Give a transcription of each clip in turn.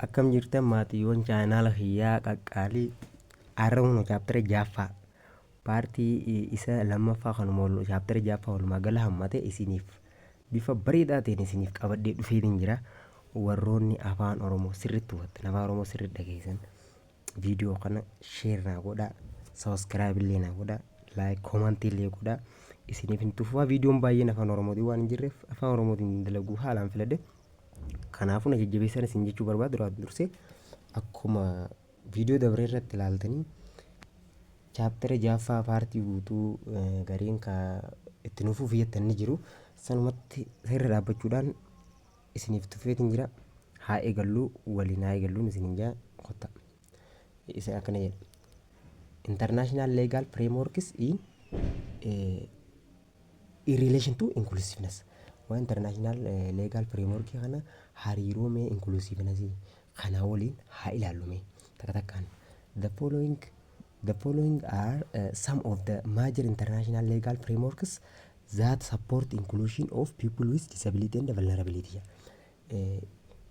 Akkam jirtan maatiiwwan chaayinaala kiyyaa qaqqaalii Har'a kunoo chaaptara ja'affaa paartii isa lammaffaa kanuma wal chaaptara ja'affaa walumaa gala hammate isiniif bifa bareedaa ta'een isiniif qabadhee dhufeetiin jira warroonni afaan oromoo sirriitti hubattan afaan oromoo sirriitti dhageessan viidiyoo kana sheer naa godhaa sabiskiraayib illee naa godhaa laayik koomantii illee godhaa isiniif hin tuffaa viidiyoon baay'een afaan oromootiin waan hin jirreef afaan oromootiin dalaguu haalaan filadhe Kanaafuu na jajjabeessaan isin jechuu barbaadu duraan dursee akkuma viidiyoo dabree irratti ilaaltanii chaaptara jaaffaa paartii guutuu gariin ka itti nuuf fufi jettan ni jiru. Sanumatti seerri dhaabbachuudhaan isiniif tuffeetiin jira. Haa eegalluu waliin haa eegalluun isiniin jaa kotta. Isa akkana jedha. International legal frameworks in eh, in relation to inclusiveness. Waa international eh, legal framework kana hariiroo mee inclusiveness kanaa waliin haa ilaallu mee takka takkaan. The following The following are uh, some of the major international legal frameworks that support inclusion of people with disability and vulnerability.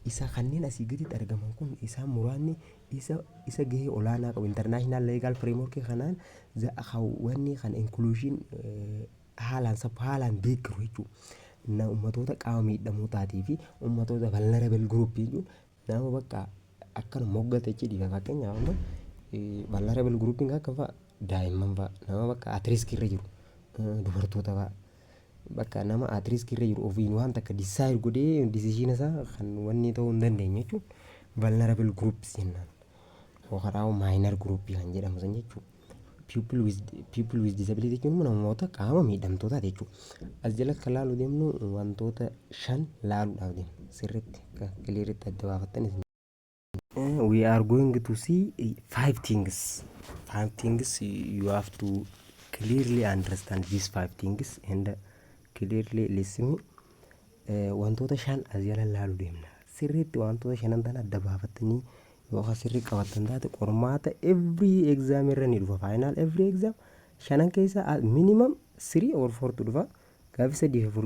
Isa kanneen asii gaditti argaman kun isaan muraasni isa isa gahee olaanaa qabu international legal framework kanaan za- kan wanni kan inclusion eh, haalaan sab haalaan deeggaru jechuudha. Na ummatoota qaama miidhamootaatii fi ummatoota vulnerable group jechuun nama bakka akkana moggata jechuu dhiiga fakkeenyaaf amma eh, vulnerable grouping akka fa'a daa'imman fa'a nama bakka at risk irra jiru eh, dubartoota fa'a. Bakka nama at risk irra jiru ofiin waan takka decide godhee decision isaa kan wanni ta'uu hin dandeenye jechuun vulnerable groups jennaan. Yookaan immoo minor group kan jedhamu san jechuudha. People with, people with disability jechuun immoo namoota qaama miidhamtootaati jechuudha. As jalatti kan laaluu deemnu wantoota shan laaluudhaaf deemna. Sirriitti akka kiliiritti adda baafattanis. we are going to see five things five things you have to clearly understand these five things and clearly listen Eh, wantoota shan as jala laalu deemna sirriitti wantoota shanan tana adda baafattanii yookaan sirrii qabattan taate qormaata every exam irra ni dhufa final every exam shanan keessa minimum three or four tu dhufa gaaffii sadii fi afur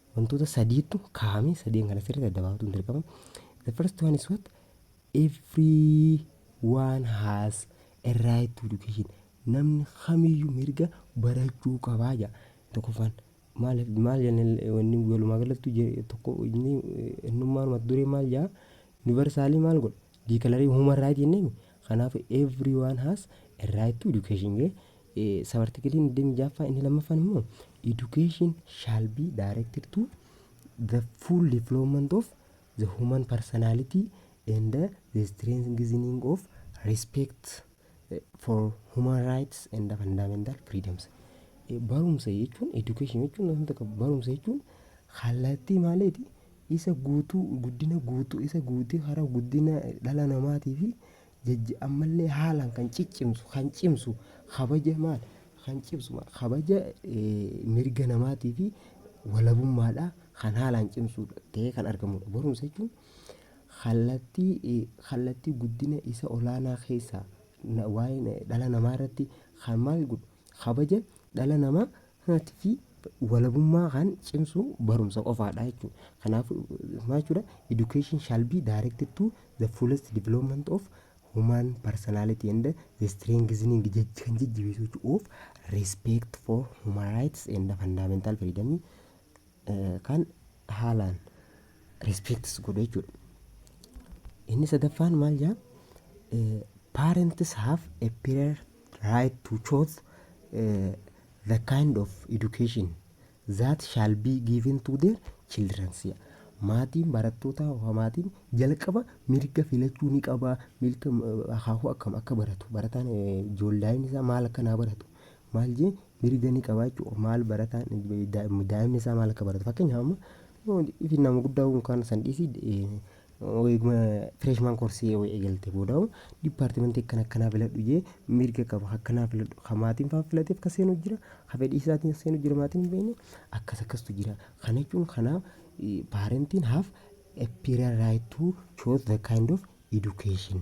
wantoota sadiitu kaa'amee sadeen kana sirriitti adda baafatuun dirqama. The first one is what? Everyone has a right to education. Namni kamiyyuu mirga barachuu qabaa jedha. Tokkoffaan maal maal jennee wanni walumaa galattu je- tokko inni eh, innummaan mata duree maal jedha? Universaalii maal godha? Diikalarii human right jennee Kanaaf everyone has a right to education jedhe. Sab artikiliin 26ffaa inni lammaffaan immoo education shall be directed to the full development of the human personality and the strengthening of respect for human rights and fundamental freedoms. Barumsa jechuun education jechuun wanta qabu barumsa jechuun kallattii maaliiti Isa guutuu, guddina guutuu, isa guutuu hara guddina dhala namaatii fi jajja ammallee haalaan kan ciccimsu, kan cimsu, kabaja maal? Kan cimsu maal? Kabaja mirga namaatii fi walabummaadhaa kan haalaan cimsu ta'ee kan argamudha. Barumsa jechuun kallattii, kallattii guddina isa olaanaa keessaa waa'ee dhala namaa irratti kan maal godhu? Kabaja dhala namaa Humnaatii fi walabummaa kan cimsu barumsa qofaadha jechuudha. Kanaafuu maal jechuudha? Education shall be directed to the fullest development of human personality and the strengthening jaj- kan jajjabeessu jechuudha of respect for human rights and fundamental freedom kan haalaan respects godhu jechuudha. Inni sadaffaan maal jaa? Eh, parents have a prior right to choose eh, the kind of education that shall be given to their children. Si'a. Maatiin barattootaa yookaan maatiin jalqaba mirga filachuu ni qaba. Mirga eh, akaakuu akkam akka baratu barataan eh, ijoolleen isaa maal akka naa baratu maal jee mirga ni qaba jechuudha. Maal barataan daa'imni isaa maal akka baratu fakkeenyaaf amma ifi nama guddaa kun kan san dhiisii eeguma fireeshmaan koorsii yoo eegalte booda diippaartimentii akkana akkanaa filadhu jee mirga qaba akkanaa filadhu kan maatiin fa'aa filateef kan seenu jira kan fedhii isaatiin seenu jira maatiin hin beekne akkas akkastu jira kana jechuun kanaa paarentiin haaf a period right to choose the kind of education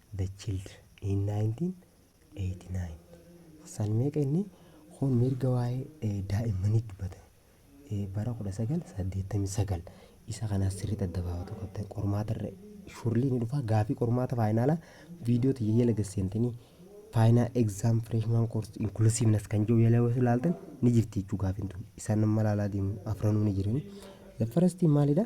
the children in 1989 san meeqa inni kun mirga waa'ee eh, daa'immanii dubbata Eh, bara 1989 isa kanaas sirriitti adda baafatu qabdan qormaata irra shurlii ni dhufa gaafii qormaata faayinaalaa viidiyoo tiyya jala gasseentinii faayinaa egzaam fireeshmaan koorsi inkulusiivnas kan jiru jala yoo ilaaltan ni jirti jechuu gaafiin tun isaan amma ilaalaa deemu afranuu ni jirani the first thing maalidha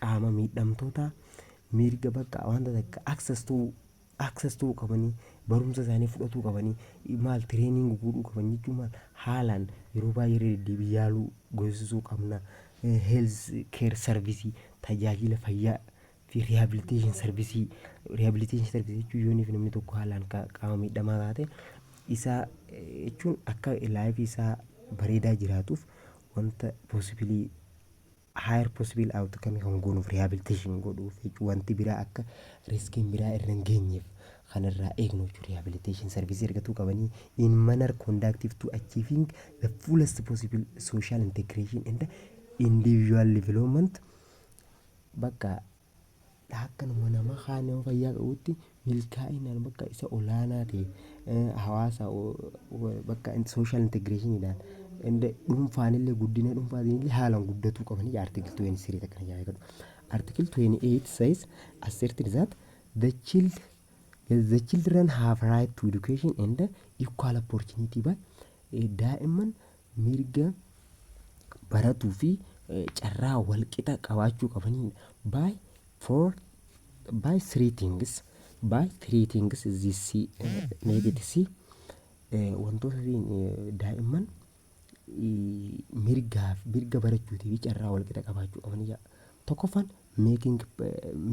qaama miidhamtootaa mirga bakka wanta takka access to access to qabanii barumsa isaanii fudhatuu qabanii maal training godhuu qaban jechuun maal haalaan yeroo baay'ee irra deddeebii yaaluu goosisuu qabna Eh, health care service tajaajila fayyaa fi rehabilitation service rehabilitation service jechuun yooniif namni tokko haalaan ka- qaama miidhamaa taate isaa eh, jechuun akka laayifii isaa bareedaa jiraatuuf wanta possibilii higher possible outcome kan goonuuf rehabilitation godhuuf jechuun wanti biraa akka riskiin biraa irra hin geenyeef kan irraa eegnu jechuun rehabilitation service argatuu qabanii in manner conductive to achieving the fullest possible social integration and individual development bakka Akkanuma nama kaan nama fayyaa qabutti milkaa'inaan bakka isa olaanaa ta'e eh, hawaasa o- o- bakka sooshaal integreeshiniidhaan inda- dhuunfaanillee guddina dhuunfaatiinillee haalaan guddatuu qabanii artikil 23 akkana jedha jedhu. Artikil 28 says asserted that the child yes, the children have right to education and equal opportunity by eh, daa'imman mirga baratuu fi carraa walqixa qabaachuu qabaniidha. By for by three things by three things this see negate see wantoota daa'imman mirgaaf mirga barachuutii fi carraa walqixa qabaachuu qabaniidha. Tokkoffaan making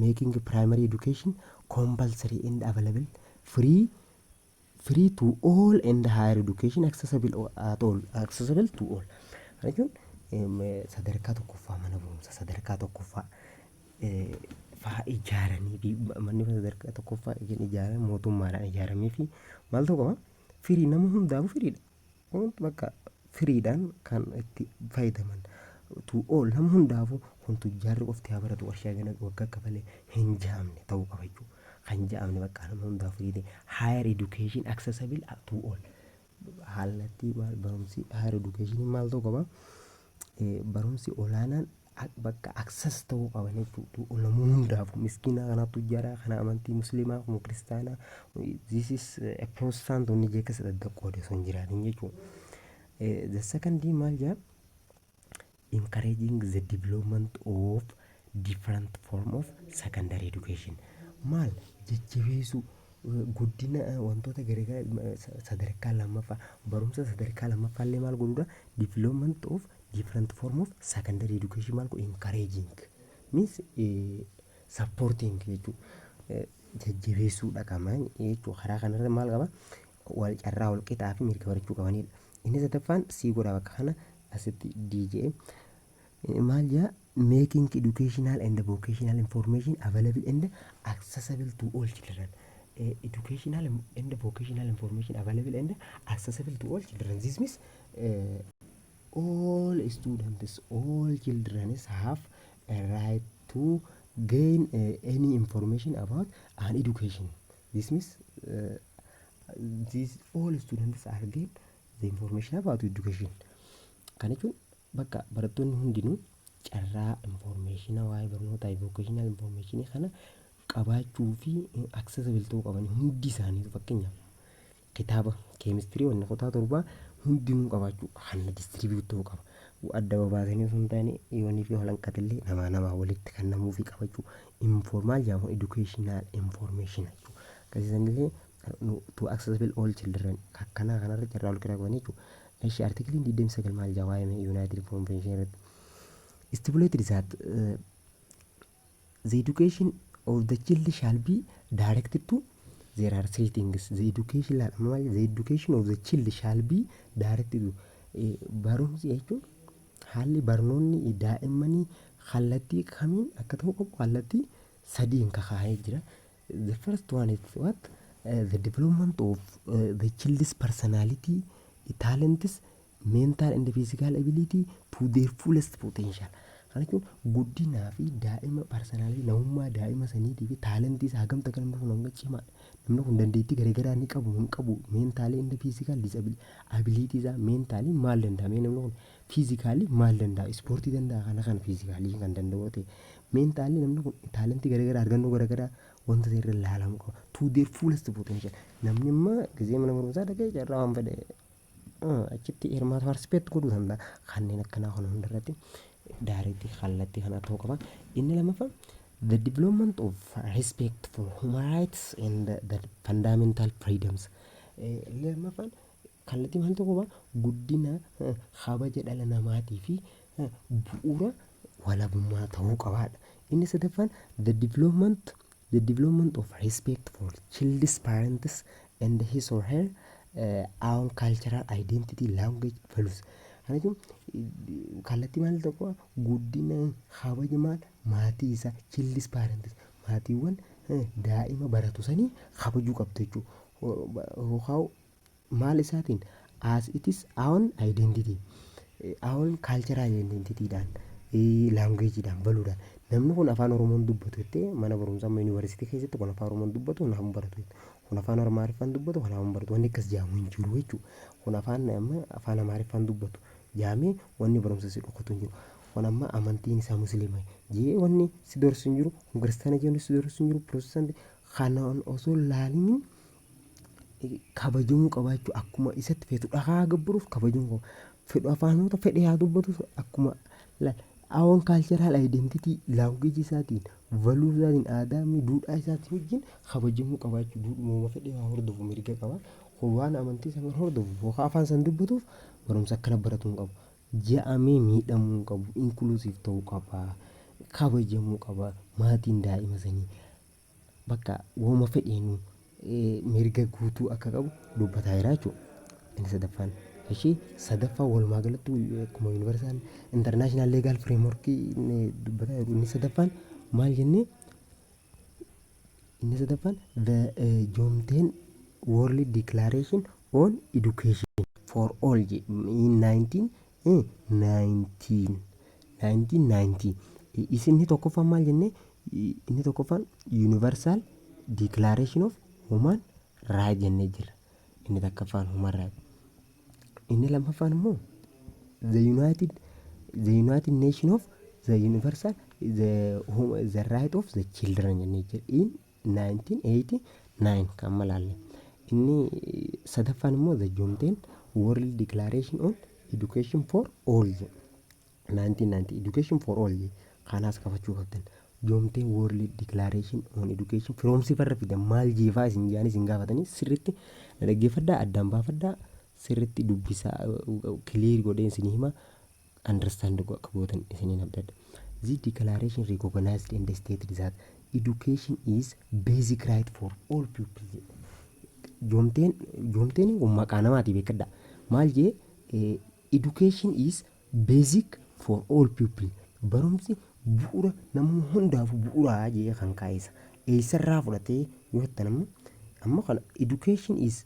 making primary education compulsory and available free free to all and higher education accessible o- at all accessible to all Kana jechuun em, eh, sadarkaa tokkoffaa mana barumsa sadarkaa tokkoffaa eh, faa ijaaranii fi ma- manni barumsa sadarkaa tokkoffaa kan ijaarame mootummaadhaan ijaaramee fi maal ta'uu qaba firii nama hundaafuu firiidha Hundi bakka firiidhaan kan itti fayyadaman to all nam hundaafuu kun tujjaarri qofti haa baratu warshaa gana waggaa kafalee hin jaamne ta'uu qaba jechuudha. Kan jaamne bakka nam hundaa firiide higher education accessible to all. Haalatti barumsi higher education maal ta'uu qaba? Barumsi olaanaan bakka access ta'uu qaban jechuudha. Ulamoo hundaafuu miskiina kanaa tujjaraa kana amantii musliimaa kun kiristaanaa this is a protestant inni jee keessa daddaqqoode osoo hin jiraatin jechuudha. The second thing maal jaa encouraging the development of different form of secondary education maal jajjabeessuu guddina wantoota garaagaraa sadarkaa lammaffaa barumsa sadarkaa lammaffaa illee maal godhuudha development of different form of secondary education maal godhu encouraging means eh, supporting jechuu eh, jajjabeessuu dhaqama jechuu karaa kanarra maal qaba wal carraa wal qixaa fi mirga barachuu qabanidha inni sadaffaan sii godha bakka kana asitti DJ eh, maal jaa making educational and vocational information available and accessible to all children eh, educational and vocational information available and accessible to all children this means eh, all students all childrens have a right to gain uh, any information about an education this means uh, these all students are gain the information about education kan jechuun bakka barattoonni hundinuu carraa informeeshina waa'ee barnootaa vocational informeeshinii kana qabaachuu fi accessible ta'uu qaban hundi isaanii fakkeenyaaf Kitaaba keemistirii wanna kutaa torbaa hundinuu qabaachuu hanna distribute ta'uu qaba. Adda babaasanii osoo hin taane yoonii fi holanqatillee namaa namaa walitti kan namuu fi qabachuu informaal jedhamu educational information jechuu. Akkasiisanillee to accessible all children akkanaa kanarra carraa wal qixa qabanii jechuu. Eshi artikiliin 29 maal jedha waa'ee United Convention irratti. Stipulated that uh, The education of the child shall be directed to there are three things the education laal amma maal the education of the child shall be directed to Eh, barumsi jechuun haalli barnoonni daa'immanii kallattii kamiin akka ta'uu qabu kallattii sadiin kakaa'ee jira the first one is what Eh, the development of eh, the child's personality talents mental and physical ability to their fullest potential kana jechuun guddinaa fi daa'ima parsanaalii namummaa daa'ima saniitii fi taalentii isaa hagamta akka namni kun hanga cimaa namni kun dandeettii garaagaraa ni qabu hin qabu meentaalii inni fiizikaal abiliitii isaa meentaalii maal danda'a mee namni kun fiizikaalii maal danda'a ispoortii danda'a kana kana fiizikaalii kan danda'u ta'e meentaalii namni kun taalentii garaagaraa argannoo garaagaraa wanta ta'e irra ilaalamuu qaba to their fullest potential namni amma gizee mana barumsaa dhaqee carraa waan fedhe achitti hirmaatu participate godhuu danda'a kanneen akkanaa kana hundarratti daareetti kallattii kana ta'uu qaba inni lammaffaa the development of respect for human rights and the, the fundamental freedoms Eh, inni lammaffaan kallattii maal ta'uu qaba guddina eh, kabaja dhala namaatii fi eh, bu'uura walabummaa ta'uu qabaadha inni sadaffaan the development The development of respect for child's parents and his or her uh, own cultural identity, language, values. Kana jechuun kallattii maal tokko guddina kabaja maal maatii isaa child's parents maatiiwwan eh, daa'ima baratu sanii kabajuu qabdu jechuudha. Yookaan Maal isaatiin? As it is own identity. Own cultural identity dhaan, language dhaan, value dhaan. Namni kun afaan Oromoon dubbatu jettee mana barumsaa amma yuunivarsiitii keessatti kun afaan Oromoon dubbatu kanaaf hin baratu. Kun afaan Amaariffaan dubbatu kanaaf hin baratu. Wanni akkas jaamu hin jiru jechuudha. Kun afaan amma afaan Amaariffaan dubbatu jaamee wanni barumsa si dhokatu hin jiru. Kun amma amantiin isaa musliima jee wanni si dorsu hin jiru. Kun kiristaana jee wanni si dorsu hin jiru. Pirotestaanti kanaan osoo hin laaliniin kabajamuu qaba jechuudha. Akkuma isatti feetu dhakaa gabbaruuf kabajamuu qaba. Fedhu afaanota fedhe haa dubbatu akkuma awon kaalcharaal ayiidentitii laanguweejii isaatiin valuu isaatiin aadaa mi duudhaa isaatiin wajjin kabajamuu qaba jechuudha. Duudhuma fedhe haa hordofu mirga qaba. Kun waan amantii sana hordofu yookaan afaan sana dubbatuuf barumsa akkana baratu hin qabu. Ja'amee miidhamuu hin qabu. Inkuluusiif ta'uu qaba. Kabajamuu qaba. Maatiin daa'ima sanii. bakka wooma fedheenu mirga guutuu akka qabu dubbataa jira jechuudha. Inni sadaffaan. Ishii sadaffaa walumaa galatti akkuma yuunivarsaal intarnaashinaal leegaal fireemworkii dubbataa jiru inni sadaffaan maal jennee inni sadaffaan the joomteen world declaration on education for all in 19 Hii nineteen nineteen ninety is inni tokkoffaan maal jennee inni tokkoffaan universal declaration of human right jennee jirra inni takkaffaan human right inni lammaffaan immoo the united the united nation of the universal the, hum- the right of the children jennee jirra in 1989 kan amma laalle. Inni sadaffaan immoo The John Ten World Declaration on Education for All jedhu. 1990 Education for All jedhu. Kaanaas qabachuu qabdan. John Ten World Declaration on Education firoomsiif irra fidan maal jeefaa isin jaanii isin gaafatanii sirriitti na dhaggeeffadhaa addaan baafadhaa sirriitti dubbisaa kiliir godhee isin hima. understand go akka gootan isiniin abdadha. This declaration recognized and stated that education is basic right for all people jedha. Joomteen joomteen kun maqaa namaati beekadha. Maal jee eh, education is basic for all people. Barumsi bu'uura namni hundaaf bu'uuraa jee kan kaa'isa. Eessarraa fudhatee yoo jettan ammoo amma kana education is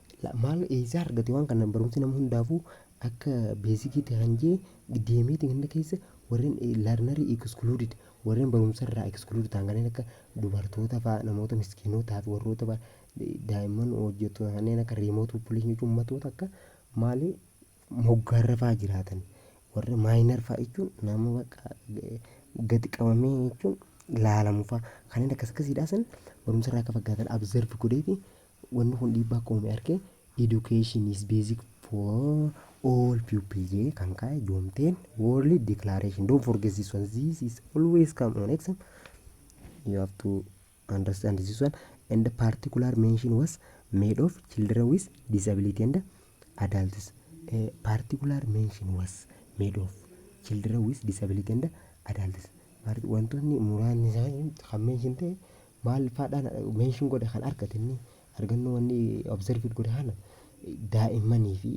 La maal eessaa argate waan kana barumsi nama hundaafuu akka beezikiitti kan jee deemeeti ganda keessa warreen learnerii excluded warreen barumsa irraa excluded ta'an kanneen akka dubartoota fa'a namoota miskiinootaa fi warroota fa'a daa'imman hojjettoota kanneen akka remote population jechuun ummatoota akka maali moggaarra fa'a jiraatan warra maayinar fa'a jechuun nama bakka gadi qabamee jechuun laalamu fa'a kanneen akkas akkasiidhaa san barumsa irraa akka faggaatan abzervi godheeti Wanni kun dhiibbaa akka uume arke Education is basic for all pupils jedhee kan kaa'e Joomteen World Declaration. Don't forget this one. This is always come on exam. You have to understand this one. And the particular mention was made of children with disability and adults. A particular mention was made of children with disability and adults. Part- Wantoonni muraasni isaanii kan mention ta'e Maal faadhaan mention godhe kan argate inni argannoo wanni observed godhe kana daa'immanii fi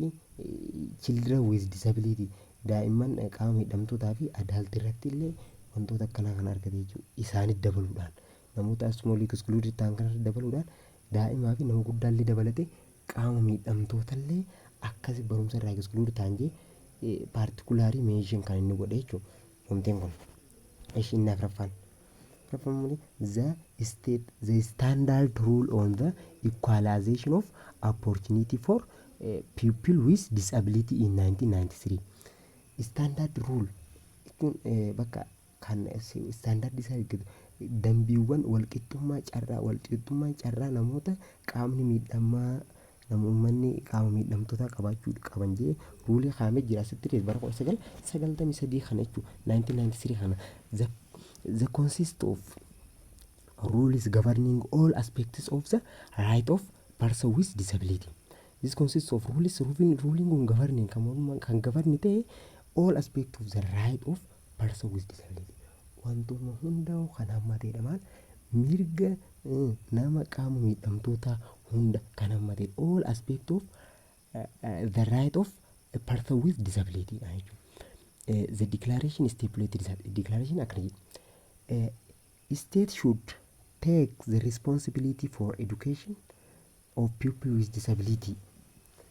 children with disability daa'imman qaama miidhamtootaa fi adult irratti illee wantoota akkanaa kan argate jechuudha. Isaanit dabaluudhaan namoota small excluded ta'an kanarra dabaluudhaan daa'imaa fi nama guddaa illee dabalate qaama miidhamtoota illee akkas barumsa irraa exclude ta'an jee particularly mention kan inni godhe jechuudha. Wanteen kun. Ishi inni afraffaan. Reforming the state, the standard rule on the equalization of opportunity for eh, people with disability in 1993. Standard rule jechuun eh, bakka kan si- standard isaa eeggatu dambiiwwan walqixxummaa carraa walqixxummaa carraa namoota qaamni miidhamaa Nama ummanni qaama miidhamtootaa qabaachuu qaban jedhee ruulii kaa'amee jira asitti illee bara 1993 kana jechuun 1993 kana the, the consist of rules governing all aspects of the right of person with disability. This consists of rules ruling, ruling on governing kan morma- kan govern ta'e all aspects of the right of person with disability. Wantuma hundaa'u kan hammateedha maal mirga nama qaama miidhamtootaa hunda kan hammate all aspect of the right of a person with disability dha jechuudha. The declaration stipulated that declaration akkana jedha. State should take the responsibility for education of people with disability.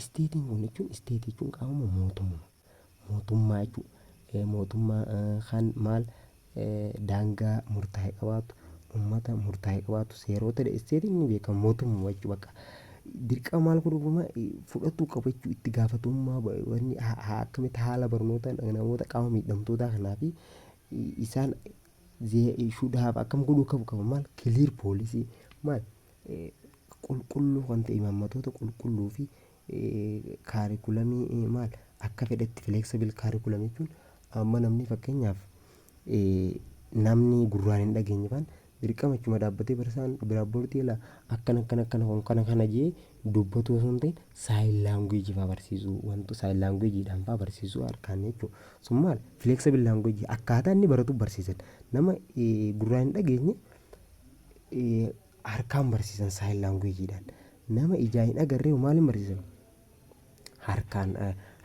Isteetiin kun jechuun isteetii jechuun qaamuma mootummaa mootummaa jechuun eh, mootummaa eh, kan maal eh, daangaa murtaa'e qabaatu ummata murtaa'e qabaatu seeroota dha. isteetiin ni beekama mootummaa jechuun bakka dirqama maal godhu guma fudhatuu qabu jechuun itti gaafatamummaa ba- wanni ha- ha- akkamitti haala barnoota namoota qaama miidhamtootaa kanaa fi i- isaan zee- should have akkam godhuu qabu qabu maal clear policy maal qulqulluu kan ta'e imaammatoota qulqulluu fi kaarikulamii maal akka fedhetti flexible curriculum jechuun amma namni fakkeenyaaf namni gurraan hin dhageenye faan dirqama achuma dhaabbatee barsiisaan bilaaboordii ilaa akkana akkana akkana kun kana kana jee dubbatu osoo hin ta'in saayil laanguweejii faa barsiisuu wantu saayil laanguweejiidhaan faa barsiisuu harkaan jechuudha. Sun maal flexible laanguweejii akkaataa inni baratu barsiisan nama gurraan hin dhageenye harkaan barsiisan saayil laanguweejiidhaan. Nama ijaa hin agarree maaliin barsiisan? Harkaan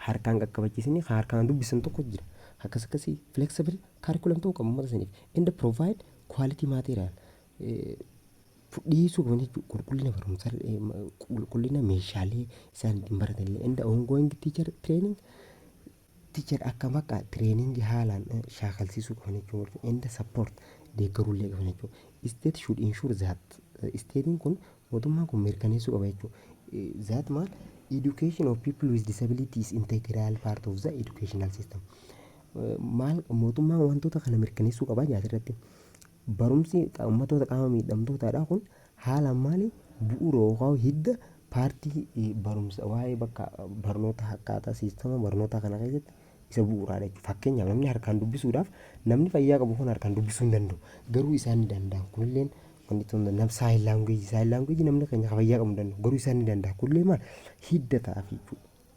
harkaan qaqqabachiisanii kan harkaan dubbisan tokko jira. Akkas akkasii flexible curriculum ta'uu qabu uummata saniif. And provide quality material. Dhiyeessuu qaban jechuudha. Qulqullina barumsa qulqullina meeshaalee isaan ittiin baratanillee. And ongoing teacher training Teacher akka bakka training haalaan shaakalsiisuu qaban jechuun walfa and support deeggaruullee qaban jechuudha. State should ensure that state'n kun mootummaan kun mirkaneessuu qaba jechuudha. That maal education of people with disability is integral part of the educational system. Maal mootummaan wantoota kana mirkaneessuu qaba jaasirratti. Barumsi ummattoota qaama miidhamtootaadhaa kun haalaan maali? Bu'uura yookaan hidda paartii barumsa waa'ee bakka barnoota akkaataa siistama barnootaa kana keessatti isa bu'uuraadha jechuudha. Fakkeenyaaf namni harkaan dubbisuudhaaf namni fayyaa qabu kun harkaan dubbisuu hin danda'u. Garuu isaan ni danda'an. Kunilleen wanti ta'uu hin danda'u. Saayil laanguweejii saayil laanguweejii namni keenya fayyaa qabu hin danda'u. Garuu isaan ni danda'an. Kunillee maal hidda ta'a jechuudha.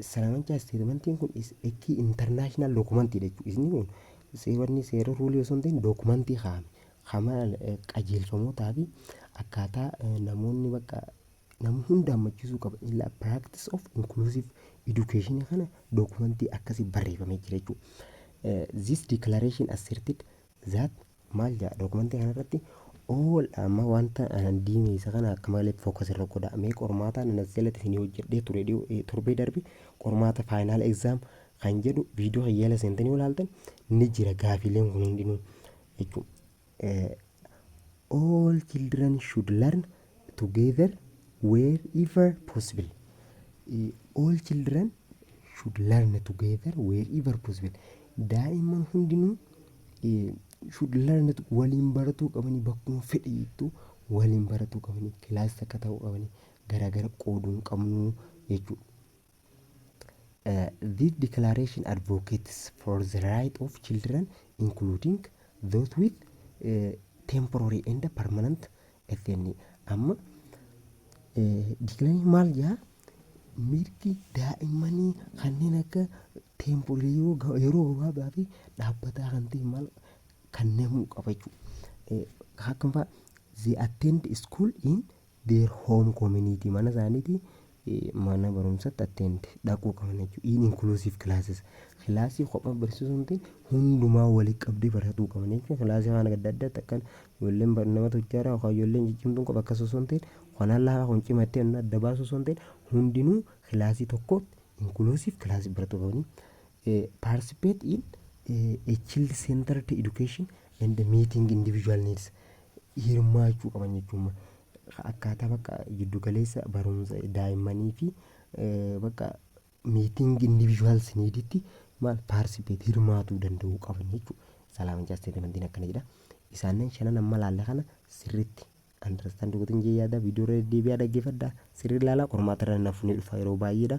Salaamanchaa isteetimantiin kun is a key international document dha jechuudha. Isni kun seewanni seera ruulii osoo hin ta'in dookumantii kaa'ame. Kama qajeelfamootaa fi akkaataa eh, namoonni bakka nama hunda hammachiisuu qaba. Illa practice of inclusive education kana dookumantii akkasii barreeffamee jira jechuudha. Eh, This declaration asserted That maal jedha dookumantii kanarratti all amma wanta anan diimeessa kana akka malee focus irra godha mee qormaataa nan as jalatti isinii hojjedhee ture dhiyoo- eh, torbee darbe qormaata final exam kan jedhu viidiyoo kan yaala seentanii yoo ilaaltan ni jira gaafiileen kun hundinuu jechuun eh, all children should learn together wherever possible. Eh, All children should learn together wherever possible. Daa'imman hundinuu eh, should learn to- waliin baratuu qabanii bakkuma fedhe jettu waliin baratuu qabanii kilaas takka ta'uu qabanii garaagara qooduu hin qabnu jechuudha. This declaration advocates for the right of children including those with eh, temporary and permanent FNA. Amma dikilarii maal jaa mirgi daa'immanii kanneen akka temporary yeroo ga- yeroo gabaabaa fi dhaabbataa kan ta'e maal kannamuu qaba jechuudha. Eh, Akkam fa'a they attend school in their home community mana isaaniiti mana barumsatti attend dhaquu qaban jechuudha. In inclusive classes kilaasii kophaa barsiisuu miti hundumaa walitti qabdee baratuu qaban jechuudha. Kilaasii waan adda addaatti akkan ijoolleen bar- nama tujjaaraa yookaan ijoolleen ciccimtuun qofa akkas osoo hin ta'in kanaan laafaa kun cimattee inni adda baasu osoo hin ta'in hundinuu kilaasii tokkootti inclusive kilaasii baratuu qabanii. Eh, participate in eh, a child centered education and meeting individual needs hirmaachuu qaban jechuun akkaataa bakka jiddu galeessa barumsa daa'immanii fi bakka miitingi individuals niiditti maal participate hirmaatuu danda'uu qaban jechuudha. Salaam jecha statementiin akkana jedha. Isaanan shanan amma laalle kana sirriitti understand godhin jee yaada viidiyoo irra deebi'aa dhaggeeffadha sirrii ilaalaa qormaata irra nafu ni dhufa yeroo baay'eedha.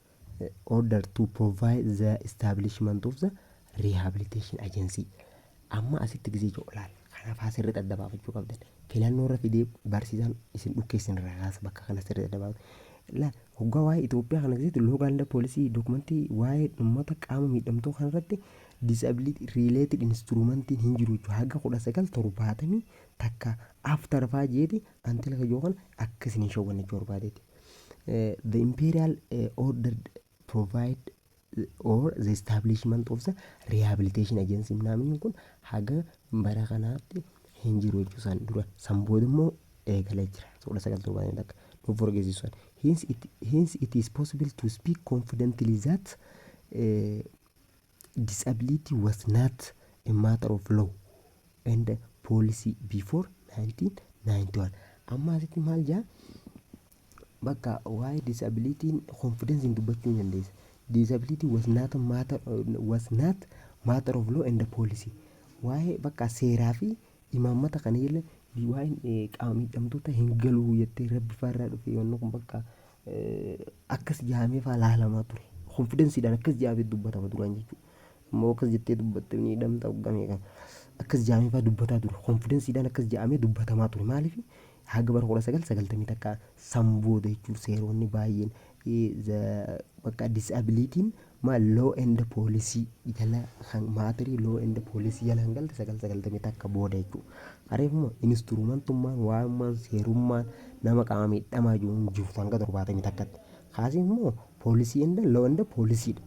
order to provide the establishment of the rehabilitation agency amma asitti gisee jiru laal kanaaf haa sirriitti adda baafachuu qabdan filannoo irra fidee barsiisaan isin dhukkeessin irraa kaasa bakka kana sirriitti adda baafachuu laal hoggaa waa'ee Itoophiyaa kana keessatti loogaanda poolisii dookumentii waa'ee uummata qaama miidhamtuu kana irratti disability related instrumentiin hin jiru jechuudha haga kudha sagal torbaatamii takka after faa jeeti antila kajoo kana akka isin hin shawwanne jechuu barbaadeeti. the imperial uh, order provide or the establishment of the rehabilitation agency namni kun haga bara kanaatti hin jiru jechuu san dura san booda immoo eegalee jira soodha sagal torbaan takka nuuf forgeessisan hence it, hence it is possible to speak confidently that uh, Disability was not a matter of law and policy before 1991. Amma asitti maal jaa? Bakka waa'ee disabilitiin konfidensiin dubbachuu ni dandeessa. Disability was not, matter, was not matter of law and policy. Waa'ee bakka seeraa fi imaammata kana jala waa'een qaama miidhamtoota hin galuu jettee rabbi faarraa dhufe yoonni kun bakka akkas jaamee faa laalamaa ture konfidensiidhaan akkas jaamee dubbatama duraan jechuudha. Immoo akkas jettee dubbatte ni hidhamta hoggamee kan akkas jaamee faa dubbataa ture konfidensiidhaan akkas jaamee dubbatamaa ture maaliif haga bara kudha sagal sagaltamii takka san booda jechuun seeronni baay'een bakka disabilitiin Maal law and policy jala kan maatiri law and policy jala kan galte sagal sagaltamii takka booda jechuudha. Areef immoo instrumentummaan waa'ummaan seerummaan nama qaama miidhamaa jiru hin jirtu hanga torbaatamii takkatti. Kaasii immoo poolisii and law and policy dha.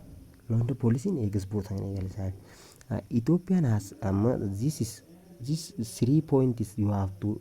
Law and policy ni eegas bootaan eegale isaan. Uh, Ethiopian has amma this is this is three points you have to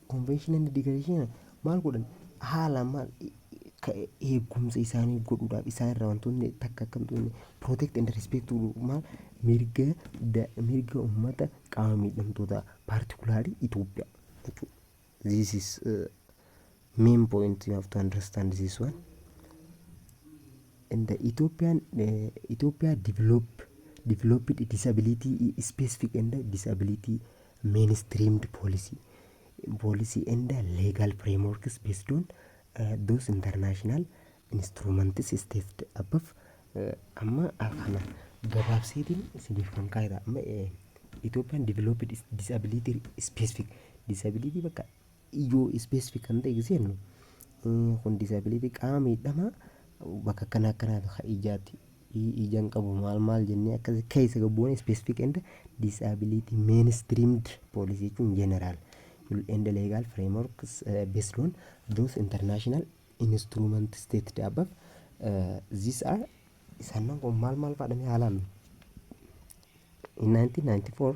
Conventional Education maal godhan haala maal ka eegumsa isaanii godhuudhaaf isaan irraa wantoonni takka akka hin xuqne protect and respect to maal mirga da- mirga uummata qaama miidhamtootaa particularly Itoophiyaa jechuudha. This is uh, main point you have to understand this one. And the Ethiopian uh, Ethiopia develop developed disability specific and disability mainstreamed policy policy and legal frameworks based on uh, those international instruments stated above uh, amma kana gabaabseetiin isiniif kan kaa'edha amma eh, Ethiopian developed is- disability specific disability bakka ijoo specific kan ta'e gisee jennu eh, kun disability qaama miidhamaa bakka akkana akkanaatu ka ijaatti i ijan qabu maal maal jennee akkas keessa gabboone specific and disability mainstreamed policy jechuun general and legal frameworks uh, based on those international instrument stated above uh, these are sannan kun maal maal faadhame haalaan in 1994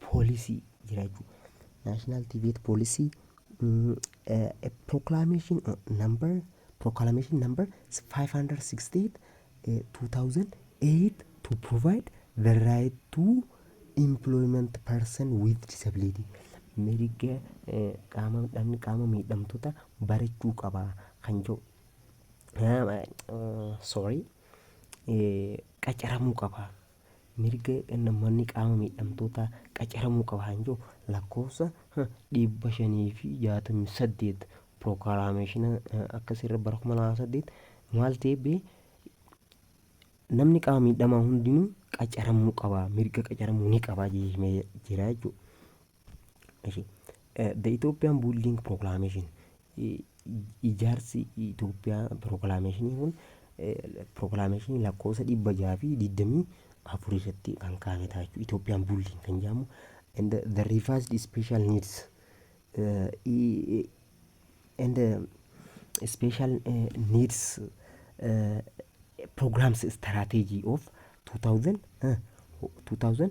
policy jira jechuudha. National debate policy mm, eh, a proclamation uh, number proclamation number 568 eh, 2008 to provide the right to employment person with disability mirga eh, qaama dhamni qaama miidhamtoota barachuu qaba kan jedhu Ah, eh, sorry eh, qacaramuu qaba mirga nammanni qaama miidhamtootaa qacaramuu qaba kan jiru lakkoofsa 568 pirookaraameshina akkasirra bara 2008 maal ta'e bee namni qaama miidhamaa hundinuu qacaramuu qaba mirga qacaramuu ni qaba jira jechuudha. Ishi, eh, The Ethiopian Building Proclamation I- i- ijaarsi Itoophiyaa proclamation kun eh, proclamation lakkoofsa dhibba jaha fi digdamii afur irratti kan kaa'ame ta'a jechuudha. Ethiopian Building kan jedhamu and the- the revised special needs eh, i- i- and the special eh, needs eh, programs strategy of 2000 eh, 2000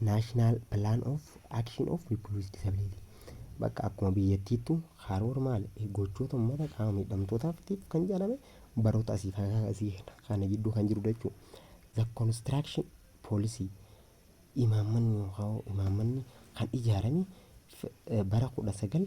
National Plan of Action of People with Disability. Bakka akkuma biyyattiittu karoora maal gochoota uummata qaama miidhamtootaatiif kan jedhame baroota asii kana asii kana gidduu kan jiru jechuudha. The construction policy imaammanni yookaan imaammanni kan ijaarame bara kudha sagal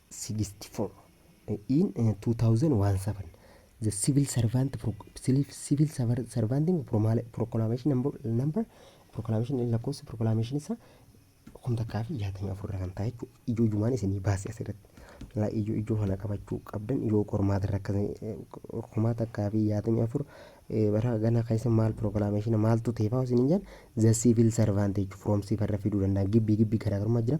64 in 2017 the civil servant pro, civil, civil servant servanting promala- proclamation number, number proclamation lakkoofsa proclamation isa kum takkaa fi jaatamii afur irra kan taa'e jechuudha. Ijoo jumaan isinii baase asirratti. Laa ijoo ijoo kana qabachuu qabdan yoo qormaata irra akka kuma takkaa fi jaatamii afur eh, bara ganaa keessa maal proclamation maaltu ta'e fa'aa isin hin jedhan the civil servant jechuudha. From civil irra fiduu danda'a. Gibbii gibbii garaagarummaa jira.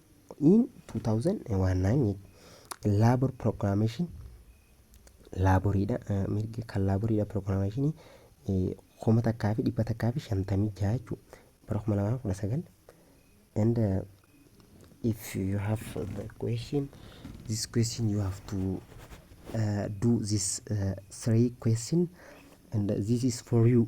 in 2019 labor proclamation laaboriidha eh, mirgi kan laaboriidha proclamation eh, kuma takkaa fi dhibba takkaa fi shantamii jaha jechuu bara kuma lamaa fi kudha sagal and uh, if you have the question this question you have to uh, do this uh, three question and this is for you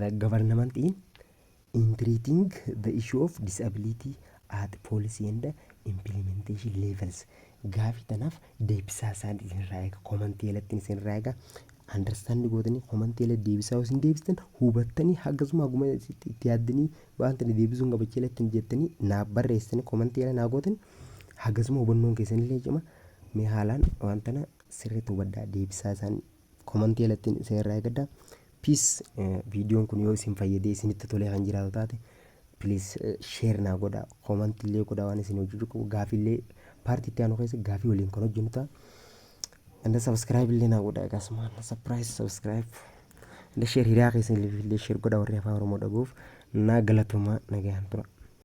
The government in in treating the issue of disability at policy and implementation levels gaafii tanaaf deebisaa isaan isinirraa eega komantii jalatti isinirraa eega understand gootanii komantii jalatti deebisaa isin deebistan hubattanii hagasuma haguma itti itti yaaddanii waan tana deebisuun gabacha jalatti hin jettanii naa barreessanii komantii jala naa gootan hagasuma hubannoon keessanillee cima mee haalaan waan tana sirriitti hubadhaa deebisaa isaan komantii alattiin isin irraa eegadha. Piis viidiyoon kun yoo isin fayyadee isinitti tolee kan jiraatu taate piliis sheer naa godha komantii illee godha waan isin hojjechuu qabu gaafii illee paartii itti aanu keessa gaafii waliin kan hojjennu ta'a. Anda sabiskiraayib illee naa godha akkasumaan sapiraayis sabiskiraayib anda sheer hiriyaa keessan illee sheer godha warri afaan oromoo dhaguuf naa galatomaa nagayaan tura.